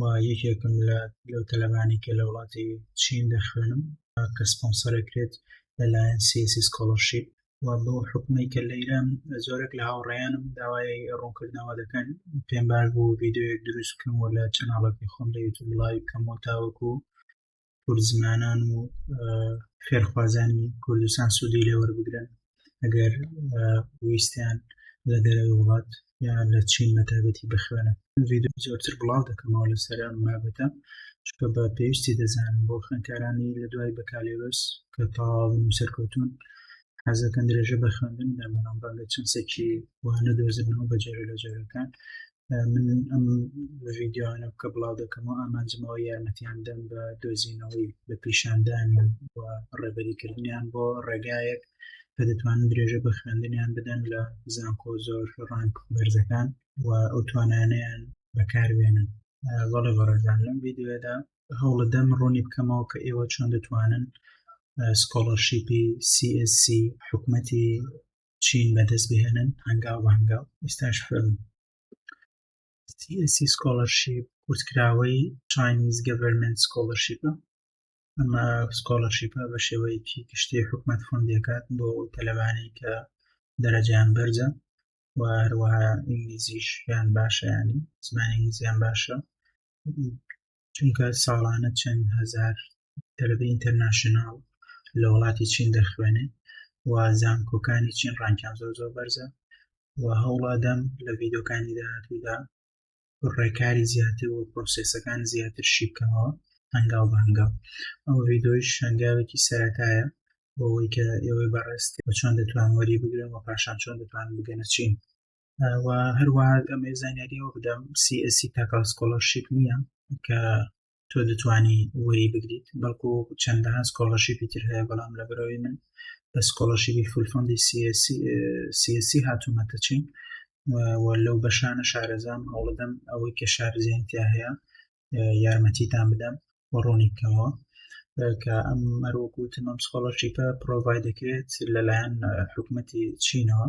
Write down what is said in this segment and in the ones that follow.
و یەکێکم لە لەو تەلەبانی کە لە وڵاتی چین دەخوێنم کە سپۆنسەرەکرێت لەلایەن سیسی سکۆڵەرشیپ و بۆ حکومی کە لە ئیران زۆرێک لە هاوڕێیانم داوای ڕوونکردنەوە دەکەن پێم باش بوو ڤیددیوەک دروست بکەم و لە چەناڵەکەی خۆم لە یوتوب لای بکەم و تاوەکو کوردزمانان و فێرخوازانی کوردستان سوودی لێ وەربگرن ئەگەر ویستیان لە دەرەوەی وڵات یان لە چین مەتابەتی بخوێنە ویددیو زۆرتر بڵاو دەکەمەوە لەسەر ئەم بابەتە چکە بە پێویستی دەزانم بۆ خوێنکارانی لە دوای بەکالێرۆس کە تاواون و سەرکەوتون حەزەکەن درێژە بە خوێندن دەمەڵام بەڵێ چەند سەکی وانە دۆزنەوە بە جێرە لە جێرەکان من ئەم ڤیددیوانە بکە بڵاو دەکەمەوە ئامانجمەوە یارمەتیان دەم بە دۆزینەوەی بە پیشاندانی ڕێبەریکردنیان بۆ ڕێگایەک کە دەتوانن درێژە بە خوێندنیان بدەن لە زانکۆ زۆر ڕانک بەرزەکان و ئەو توانانیان بەکاربێنن وەڵێ بەڕێزان لەم ویددیوێدا هەوڵدەم ڕوونی بکەمەوە کە ئێوە چۆن دەتوانن سکۆڵەرشیپی CSC حکومەتی چین بەدەست بهێنن هەنگاو بە هەنگاو ئێستاش خوێن سیسی سکۆلەرشیپ کورتکراوەی چینیز گەڤەرمنت سکۆلەرشیپە ئەمە سکۆلەرشیپە بە شێوەیەکی گشتی حکومت فۆندەکات بۆ تەلەبانی کە دەرەجیان بەرزە و هەروەها ئینگلیزیشیان باشیانی زمانی ئینگلیزیان باشە چونکە ساڵانە چەند هەزار تەلەبەی ئینتەرناشناڵ لە وڵاتی چین دەخوێنێت و زانکۆکانی چین ڕانکیان زۆر زۆر بەرزە و هەوڵادەم لە ڤیدۆکانی داهاتوودا ڕێکاری زیاتر و پرۆسسەکان زیاتر شیبکەمەوە هەنگاو بەنگاو ئەو ڤیدۆیش هەنگاوێکی سەتایە بۆەوەی کە ئێوەی بەڕێست چۆن دەتوان وەری بگرن و پاشان چۆن دەتوان بگەنە چین و هەروەها ئەمە زانیاریەوە بدەم CSC تاکە سکۆلەرشیپ نییە کە تۆ دەتوانی وەری بگریت بەڵکو چەندەها سکۆلەرشیپی تر هەیە بەڵام لە بەرەوەی من بە سکۆلەرشیبی فولفندی CSC هاتوومەتە چین و لەو بەشانە شارەزام هەوڵدەم ئەوەی کە شارزیانتیا هەیە یارمەتیتان بدەم و ڕوونی بکەمەوە کە ئەم مەروەکوتم ئەم سکۆڵەرشیپە پرۆڤای دەکرێت لەلایەن حکوومەتی چینەوە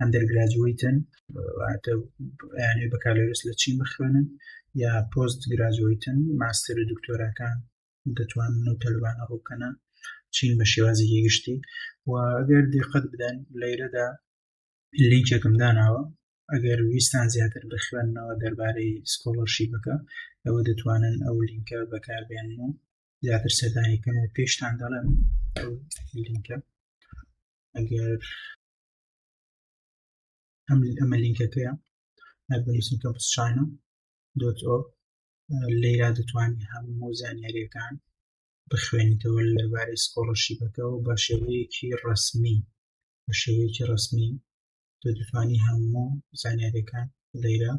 ئەندەرگراجوەیتن واتە یانەی بەکالۆرس لە چین بخوێنن یا پۆست گراجوەیتن ماستەر و دکتۆراکان دەتوانن و تەلبانە ڕووکەنە چین بە شێوازێکی گشتی و ئەگەر دقت بدەن لەیرەدا لینکێکم داناوە ئەگەر ویستان زیاتر بخوێنەوە دەربارەی سکۆڵەرشی بکە ئەوە دەتوانن ئەو لینکە بەکاربێن و زیاتر سەردانیکەن و پێشتان دەڵێن لینکە ئەگەر ئەم ئەمە لینکەکەیە هەربەریسم کە بسچانە دۆت ئۆ لێرا دەتوانانی هەموو زانیاریەکان بخوێنیتەوە لەبارەی سکۆڵەشیبەکەەوە بە شێوەیەکی ڕسمی بە شێوەیەکی ڕسمی تۆ دەتوانی هەموو زانیاریەکان لێرە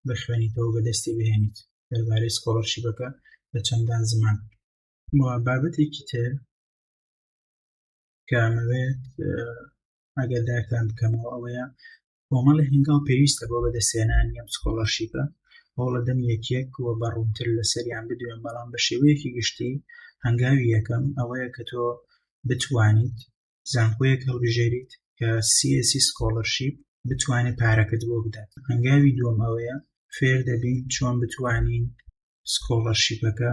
بخوێنیتەوە بەدەستی بهێنیت دەربارەی سکۆڵەرشیبەکە لە چەندان زمان بابەتێکی تر کە ئەمەوێت ئەگەر داکتان بکەمەوە ئەوەیە کۆمەڵی هەنگاو پێویستە بۆ بەدەسێنانی ئەم سکۆڵەرشیپە ئەو لە دەم یەکێک و بە ڕوونتر لەسەریان بدوێن بەڵام بە شێوەیەکی گشتی هەنگاوی یەکەم ئەوەیە کە تۆ بتوانیت زانکۆیەک هەڵبژێریت کە سیسی سکۆڵەرشیپ بتوانێت پارەکەت بۆ بدات هەنگاوی دووەم ئەوەیە فێر دەبین چۆن بتوانین سکۆڵەرشیپەکە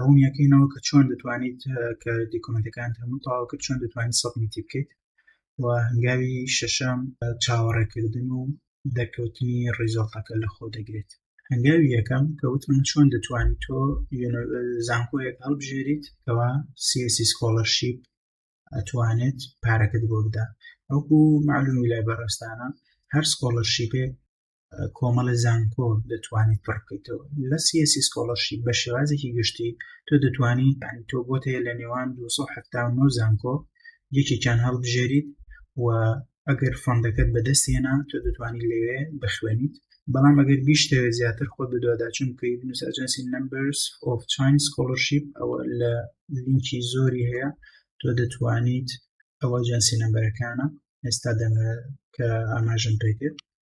ڕوونیەکەینەوە کە چۆن دەتوانیت کە دیکۆمنتەکان هەموو تاواکە چۆن دەتوانین سەبمیتی بکەیت و هەنگاوی شەشەم چاوەڕێکردن و دەرکەوتنی ڕیزۆڵتەکە لە خۆ دەگرێت هەنگاوی یەکەم کە وتم چۆن دەتوانیت تۆ زانکۆیەک هەڵبژێریت کەوا سیسی سکۆڵەرشیپ ئەتوانێت پارەکەت بۆ بدا ئەوکو معلومی لای بەڕێستانە هەر سکۆڵەرشیپێک کۆمەڵە زانکۆ دەتوانیت پڕ بکەیتەوە لە سیسی سکۆڵەشی بە شێوازێکی گشتی تۆ دەتوانی تۆ بۆت هەیە لە نێوان 1970 زانکۆ یەکێکیان هەڵبژێریت و ئەگەر فەندەکەت بەدەست هێنا تۆ دەتوانانی لەوێ بخوێنیت بەڵام ئەگەر بیشتەوێت زیاتر خۆ دەدواداچون بکەی نووسجنسی نمبرس of چین سکۆلەرشیپ ئەوە لە لینکی زۆری هەیە تۆ دەتوانیت ئەوە جەنسی نمبەرەکانە ئێستا دەمە کە ئاماژم پێکرد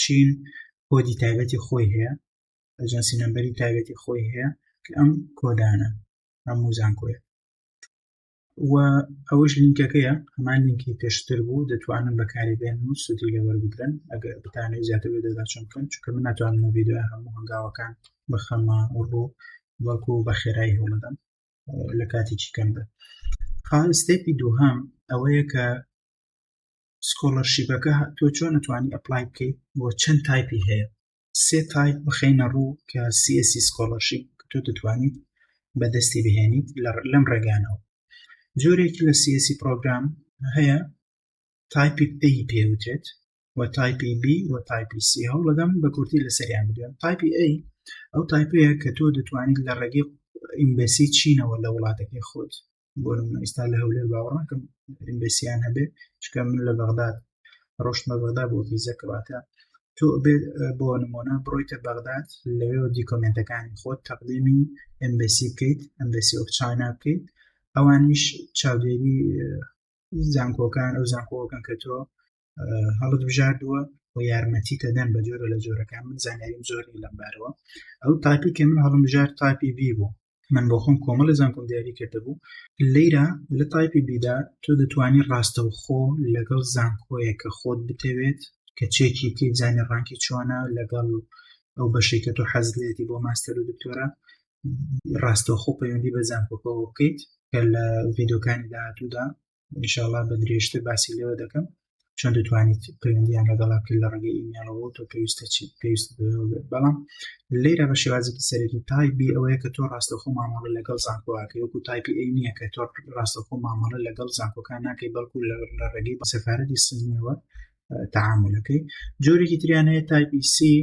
چین کۆدی تایبەتی خۆی هەیە ئەجنسی نمبەری تایبەتی خۆی هەیە کە ئەم کۆدانە ئەم موزانکۆیە و ئەوش لینکەکەیە هەمان لینکی پێشتر بوو دەتوانن بەکاری بێن و سودی لەوەربگرن ئەگەر بتانێت زیاتر دەداچم بکەن چکە من ناتوانم ویددیو هەموو هەنگاوەکان بخەمە ڕوو وەکو بە خێرایی هەوڵدەم لە کاتێکی کەم بێت خاستێکی دووهام ئەوەیە کە سکۆڵەرشیپەکە تۆ چۆن توانی ئەپلای بکەیت بۆ چەند تایپی هەیە سێ تایپ بخینە ڕوو کە سیسی سکۆڵەرشیپ تۆ دەتوانیت بەدەستی بهێنیت لەم ڕێگانەوە جۆرێکی لە سیسی پرۆگرام هەیە تایپی پێی پێوترێت و تایپی بی و تایپی سی هەوڵ لەدەم بە کورتی لەسەریان بدوێن تایپی ئەی ئەو تایپەیە کە تۆ دەتوانیت لە ڕێگەی ئیمبەسی چینەوە لە وڵاتەکەی خۆت بۆ نمونە ئیستا لە هەولێر باوەڕناکەم ئینبسییان هەبێ چکە من لە بەغداد ڕۆشتمە بەغدا بۆ ڤیزە کەواتە تۆ بێت بۆ نمونە بڕۆیتە بەغداد لەوێەوە دیکۆمنتەکانی خۆت تەقدیمی ئەمبسی بکەیت ئەمبسی ئۆف چاینا بکەیت ئەوانیش چاودێری زانکۆکان ئەو زانکۆکەن کە تۆ هەڵت بژاردووە و یارمەتی تەدەن بە جۆرە لە جۆرەکان من زانیاریم زۆری لەمبارەوە ئەو تاپی کە من هەڵم بژار تاپی بی بوو من بۆ خۆم کۆمەڵی زانکۆم دیاری کردبوو لەیرا لە تایپی بیدا تۆ دەتوانی ڕاستەوخۆ لەگەڵ زانکۆیە کە خۆت بتەوێت کە چێکی تی بزانانی ڕانکی چۆنە لەگەڵ ئەو بەشی کە تۆ حەز لێتی بۆ ماستەر و دکتۆرە ڕاستەوخۆ پەیوەندی بە زانکۆکەەوە بکەیت کە لە ڤیددیوکانی داهاتوودا ئینشاءاللە بە درێژتر باسی لێوە دەکەم چۆن دەتوانیت پەیوەندیان لەگەڵا بکەیت لە ڕێگەی ئیمێڵەوە تۆ پێویستە چی پێویست بەڵام لێرە بە شێوازێکی سەرەکی تایبی ئەوەیە کە تۆ ڕاستەخۆ مامەڵە لەگەڵ زانکۆواکە وەکو تایپی ئەی نییە کە تۆ ڕاستەخۆ مامەڵە لەگەڵ زانکۆکان ناکەی بەڵکو لە ڕێگەی بە سەفاەتی سنیەوە تعاملەکەی جۆرێکی تریانەیە تایپی سی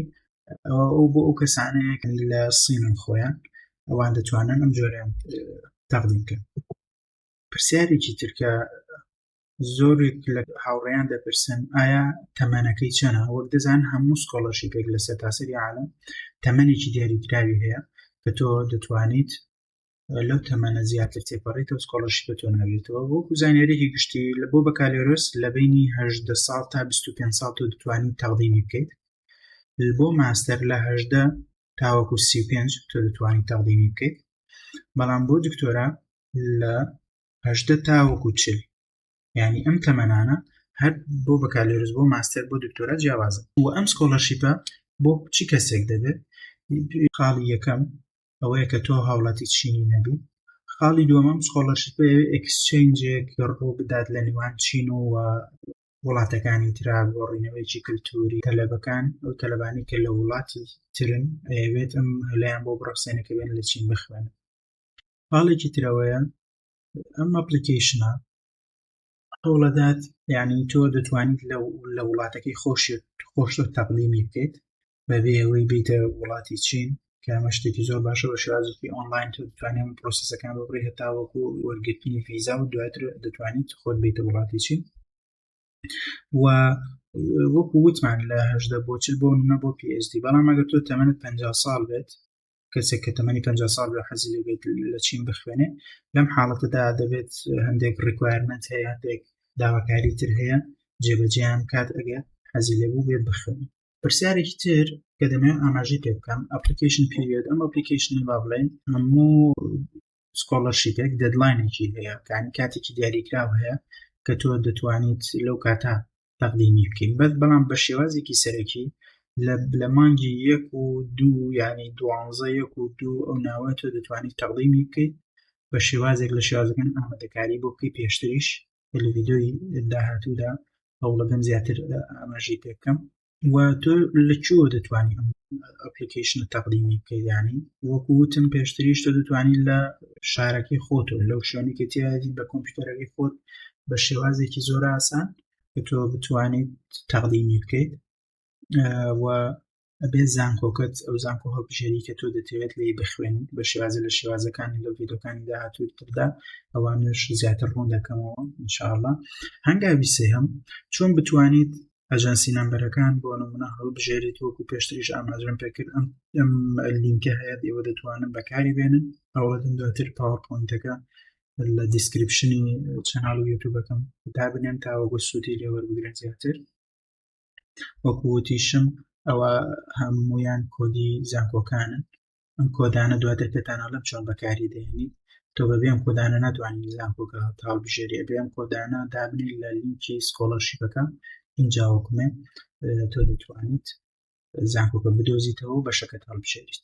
ئەو بۆ ئەو کەسانەیە لە سینن خۆیان ئەوان دەتوانن ئەم جۆریان تەقدیم کرد پرسیارێکی ترکە زۆرێک لە هاوڕێیان دەپرسن ئایا تەمەنەکەی چەنە وەک دەزان هەموو سکۆڵەشی پێک لە سەرتاسەری عالم تەمەێکی دیاریکراوی هەیە کە تۆ دەتوانیت لەو تەمەە زیاتر تێپەڕیتەوە سکۆڵەشی بە تۆ ناوێتەوە وەکو زانیارێکی گشتی لە بۆ بەکالۆرۆس لە بینیهدە ساڵ تا 25 ساڵ تۆ دەتوانین تەڵدیبی بکەیت بۆ ماستەر لەهدە تاوەکو 35 تۆ دەتوانین تەڵدیبی بکەیت بەڵام بۆ دکتۆرا لە هەژدە تاوەکو چل ینی ئەم تەمەنانە هەر بۆ بەکالێرز بۆ ماستەر بۆ دکتۆرا جیاوازە و ئەم سکۆلەرشیپە بۆ چی کەسێک دەبێت خاڵی یەکەم ئەوەیە کە تۆ هاوڵاتی چینی نەبی خاڵی دووەمەم سکۆلەرشیپ ئەکسچنجێک ڕۆ بدات لە نێوان چین و وڵاتەکانی تررا بۆ ڕینەوەیکی کللتوری تەلەبەکان ئەو تەلبانی کە لە وڵاتی ترن ئەوێت ئەم هەلیان بۆ بڕەسێنەکە بێن لە چین بخوێنن پاڵێکی ترەوەیە ئەم ئەپلیکیشنە هەوڵەدات یعنی تۆ دەتوانیت لە وڵاتەکەی خۆش خۆشتۆ تەقلیمی بکەیت بەبێ ئەوەی بیتە وڵاتی چین کامە شتێکی زۆر باشە بە شازێکی ئۆنلاین تۆ دەتوانێت پرۆسیسەکان بڕی هەتاوەکو وەرگرتنی فیزا و دواتر دەتوانیت خۆت بیتە وڵاتی چین و وەکو وتمان لە هەشدە بۆچل بۆ نە بۆ پSD بەڵام ئەگەر تۆ تەمەنت پ ساڵ بێت کەسێک کە تەمەنی پ سال بە حەزی لەبێت لە چین بخوێنێ لەم حاڵەتەدا دەبێت هەندێک ڕیکوایرمنت هەیە هەندێک داواکاری تر هەیە جێبەجیان کات ئەگە حەزی لەبوو بێت بخوێن پرسیارێکی تر کە دەمەوێت ئاماژی پێ بکەم ئەپلیکیشن پێوێت ئەم ئەپلیکیشن با بڵێن هەموو سکۆڵەرشیپێک دەدلاینێکی هەیە کانی کاتێکی دیاریکراو هەیە کە تۆ دەتوانیت لەو کاتە تەقدیمی بکەین بەس بەڵام بە شێوازێکی سەرەکی لە مانگی یەک و دوو ینی دوانزە یەک و دوو ئەو ناوە تۆ دەتوانانی تەقدیمی بکەیت بە شێوازێک لە شێوازەکان ئامادەکاری بۆ بکەی پێشتریش لە ڤیددیۆی داهاتوودا هەوڵەکەم زیاتر ئاماژی پێکەم و تۆ لە چوە دەتوانانی ئەم ئەپلیکیشنە تەقدیمی بکەیدانی وەکوتم پێشتریش تۆ دەتوانانی لە شارەکەی خۆتۆ لەو شوێنێکی تیادی بە کۆمپیوتەرەکەی خۆت بە شێوازێکی زۆر ئاسان کە تۆ بتوانیت تەقدیمی بکەیت و ئەبێ زانکۆکەت ئەو زانکۆ هەڵبژێری کە تۆ دەتەوێت لی بخوێنیت بە شێوازە لە شێوازەکانی لە ڤیدۆکانی داهاتووی تردا ئەوانش زیاتر ڕوون دەکەمەوە انشاءله هەنگاوی سێهم چۆن بتوانیت ئەژەنسی نمبەرەکان بۆ نمونە هەڵبژێریت وەکو پێشتریش ئاماژم پێکرد ئەم ئەم لینکە هەیە ئێوە دەتوانن بەکاری بێنن ئەوەدن دواتر پاوەپۆینتەکە لە دیسکرپشنی چەناڵ و یوتوبەکەم دابنێن تاوەگو سوودی لێوەربگرن زیاتر وەکووتیشم ئەوە هەمویان کۆدی زانکۆکانن ئەم کۆدانە دواتر پێتانەڵم چۆن بەکاری دێنیت تۆ بەبێم کۆدانە ناتوانین زانکۆکە تاڵ بژێری بێم کۆدانە دابنی لە لینکی سکۆڵەرشیپەکە اینجا وەکومێ تۆ دەتوانیت زانکۆکە بدۆزیتەوە بەشەکە تاڵ بژێریت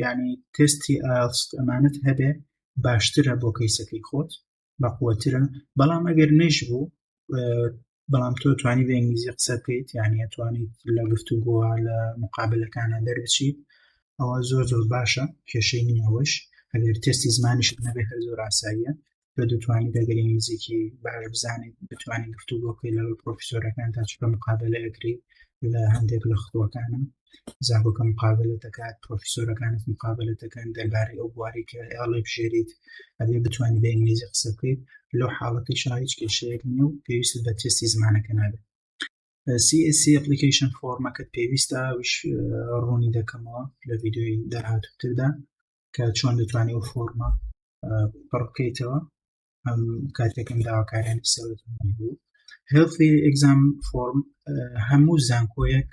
ینی تستی ئاست ئەمانت هەبێ باشترە بۆ کەیسەکەی خۆت بەقوترە بەڵام ئەگەر نەش بوو بەڵام تۆ توانی بە ئینگلیزی قسە بکەیت یانە توانیت لە گفت و گووە لە مقابلەکانە دەربچیت ئەوە زۆر زۆر باشە کێشەی نیەوەش ئەگەر تستی زمانیش نەبێت هەر زۆر ئاساییە کە دەتوانین دەگەری نزیکی باش بزانین بتوانین گفتو بۆکەی لە پرۆفیسۆرەکان تا چکە مقابلە ئەگری لە هەندێک لە خۆەکانم زاهۆکە مقابلە دەکات پرۆفیسۆرەکانت مقابلە دەکەن دەربارەی ئەو بواری کە ئێڵێ بژێریت ئەبێ بتوانانی بە ئینگلیزی قسە بکەیت لەو حاڵەتی شاهیچ کێشەیەک نیە و پێویست بە تێستی زمانەکە نابێت CSC ئەپلیکیشن فۆرمەکەت پێویستە ڕوونی دەکەمەوە لە ویددیوی داهاتوتردا کە چۆن دەتوانێت و فۆرمە پڕکەیتەوە ئەم کاتێکم داواکاریان سەوت بوو هێڵفی ئەگزام فۆرم هەموو زانکۆیەک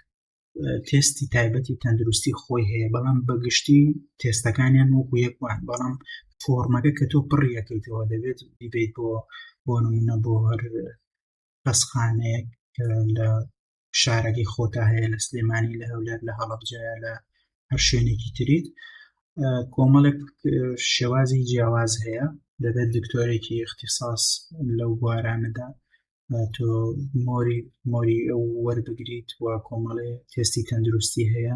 تێستی تایبەتی تەندروستی خۆی هەیە بەڵام بەگشتی تێستەکانیان وەکو یەکوان بەڵام فۆرمەکە کە تۆ پڕیەکەیتەوە دەبێت بیبیت بۆ بۆ نمونە بۆ هەر بەسخانەیەک لە شارەکەی خۆتا هەیە لە سلێمانی لە هەولێر لە هەڵبجاە لە هەر شوێنێکی تریت کۆمەڵێک شێوازی جیاواز هەیە دەبێت دکتۆرێکی اختصاص لەو بوارانەدا تۆ مۆری مۆری ئەو وەربگریت و کۆمەڵێ تێستی تەندروستی هەیە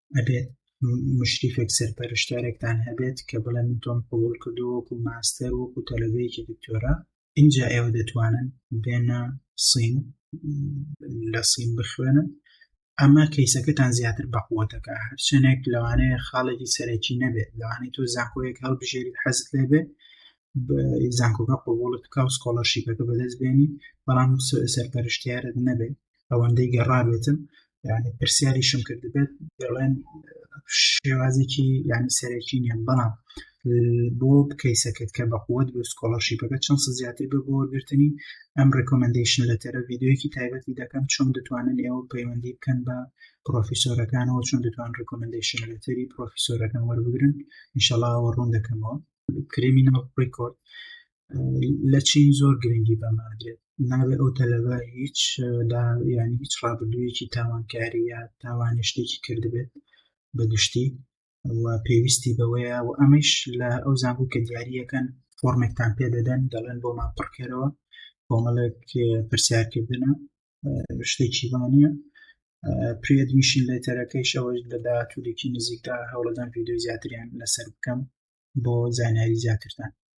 ئەبێت مشریفێک سەرپەرشتارێکتان هەبێت کە بڵێ من تۆم قوبول کردو وەکو ماستەر وەکو تەلەبەیەکی دکتۆرا اینجا ئێوە دەتوانن بێنە سین لە سین بخوێنن ئەمە کەیسەکەتان زیاتر بەقوتەکە هەرچەنێک لەوانەیە خاڵێکی سەرەکی نەبێت لەوانەی تۆ زانکۆیەک هەڵبژێری حەزت لێبێت زانکۆکە قوبولت بکە و سکۆڵەرشیپەکە بەدەست بێنی بەڵام سەرپەرشتیارت نەبێت ئەوەندەی گەڕابێتن یعنی پرسیاریشم کردبێت دەڵێن شێوازێکی یعنی سەرەکی نیە بەڵام بۆ کەیسەکەت کە بەقوت بۆ سکۆڵەرشیپەکە چەند زیاتر بە بۆ گرتنی ئەم ڕکۆمنندیشن لە تەرە یددیوەکی تایبەتی دەکەم چۆن دەتوانن ئێوە پەیوەندی بکەن بە پرۆفیسۆرەکانەوە چۆن دەتوان ڕکۆمنندیشن لەتەری پرۆفیسۆرەکان وەربگرن انشاءڵەوە ڕوون دەکەمەوە کریمینەوە ڕیکۆرد لە چین زۆر گرنگی بەمادرێت نابێ ئەو تەلەبە هیچ ینی هیچ ڕابردوویەکی تاوانکاری یا تاوانە شتێکی کردبێت بە گشتی و پێویستی بەوەیە و ئەمەش لە ئەو زانبوو کە دیاریەکەن فۆرمێکتان پێ دەدەن دەڵێن بۆ ما پڕکەرەوە کۆمەڵێک پرسیارکردنە شتێکی وانە پرێدمیشین لێتەرەکەیش ئەوەش لە داهاتوولێکی نزیکدا هەوڵدان یددیو زیاتریان لەسەر بکەم بۆ زانیاری زیاترتان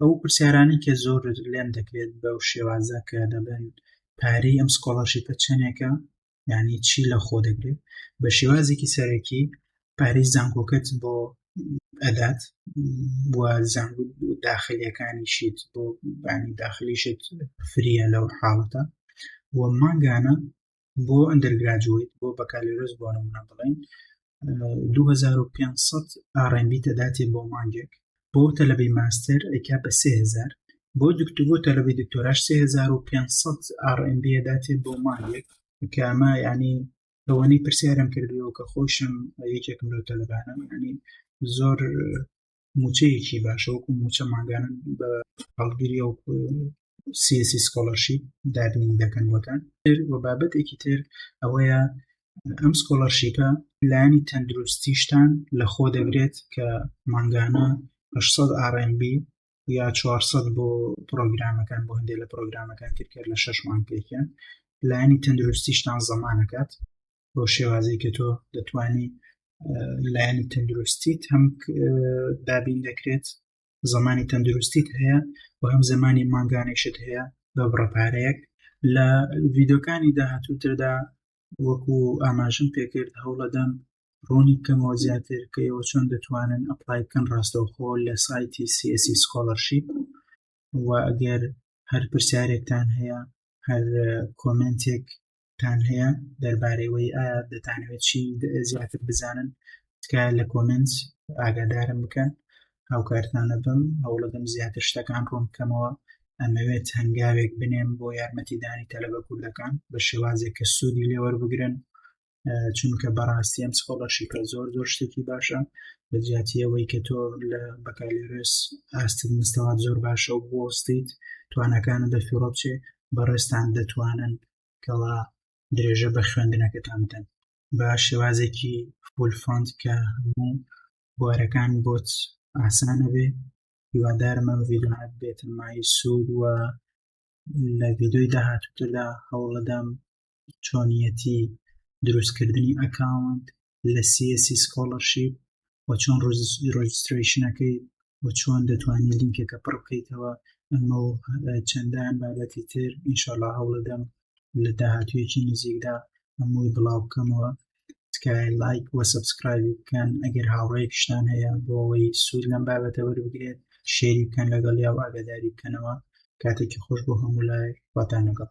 ئەو پرسیارانی کە زۆر لێم دەکرێت بەو شێوازە کە دەبن پارەی ئەم سکۆڵەرشیپە چەندێکە یعنی چی لە خۆ دەگرێت بە شێوازێکی سەرەکی پارەی زانکۆکەت بۆ ئەدات زان داخلیەکانیشیت بۆ بانی داخلیشت فریە لەو حاڵەتە و مانگانە بۆ ئەندەرگراجویت بۆ بەکالۆرۆس بۆ نمونە بڵین 2500 ئاڕێنB تەداتێ بۆ مانگێک بۆ تەلەبەی ماستەر ئەیکا بە 3000 بۆ دکتۆ بۆ تەلەبەی دکتۆراش 3500 ئاڕێنB داتێ بۆ مانگێک کامە ینی ئەوەنەی پرسیارم کردەوە کە خۆشم یەکێکم لەو تەلەبانم ینی زۆر موچەیەکی باشە وەکو موچە ماگانە بە هەڵگیری و سیسی سکۆلەرشیپ دابین دەکەن وەتان و بابەتێکی تر ئەوەیە ئەم سکۆلەرشیپە لانی تەندروستیشتان لە خۆ دەگرێت کە مانگانە 600 RMB یا 400 بۆ پرۆگرامەکان بۆ هەندێک لە پرۆگرامەکان ترکرد لە شش مانگێکیان لایانی تەندروستیشتان زەمانەکات بۆ شێوازی کە تۆ دەتانی لایەنی تەندروستیت هەم دابین دەکرێت زمانی تەندروستیت هەیە و هەم زمانی مانگانێشت هەیە بە بڕەپارەیەک لە ڤیددیوکانی داهاتووتردا وەکو ئاماژم پێکرد هەوڵەدەم ڕوونی بکەمەوە زیاتر کە ئێوە چۆن دەتوانن ئەپلای بکەن ڕاستەوخۆ لە سایتی سیسی سکۆلەرشیپ و ئەگەر هەر پرسیارێکتان هەیە هەر کۆمنتێک تان هەیە دەربارەیەوەی ئایا دەتانەوێت چی زیاتر بزانن تکایە لە کۆمنس ئاگادارم بکەن هاوکارتانە بم هەوڵەدەم زیاتر شتەکان ڕوون بکەمەوە ئەمەوێت هەنگاوێک بنێم بۆ یارمەتیدانی تەلەبە کوردەکان بە شێوازێک کە سوودی لێوەربگرن چونکە بەڕاستی ئەم سکۆڵەرشیپە زۆر زۆر شتێکی باشە بە جیاتیەوەی کە تۆ لە بەکالێرس ئاستت مستەوات زۆر باشە و بۆستیت توانەکانە دەفیڕۆچێ بەڕێستان دەتوانن کەوا درێژە بە خوێندنەکەتان بدەن بە شێوازێکی فول فۆند کە هەموو بوارەکان بۆت ئاسانە بێ هیوادارمە ڤیدۆات بێتن مای سوود وە لە ڤیدۆی داهاتوتردا هەوڵەدەم چۆنیەتی دروستکردنی ئەکاونت لە سیسی سکۆڵەرشیپ و چۆن ڕۆژستریشنەکەی و چۆن دەتوانین لینکەکە پڕ بکەیتەوە ئەمە و چەندان بابەتی تر ئینشاءڵا هەوڵەدەم لە داهاتویەکی نزیکدا هەمووی بڵاو بکەمەوە تکایە لایک وە سبسکرایب بکەن ئەگەر هاوڕێکشتان هەیە بۆ ئەوەی سوود لەم بابەتە وەربگرێت شێری بکەن لەگەڵ یا و ئاگاداری بکەنەوە کاتێکی خۆش بۆ هەموو لای واتانەگەڵ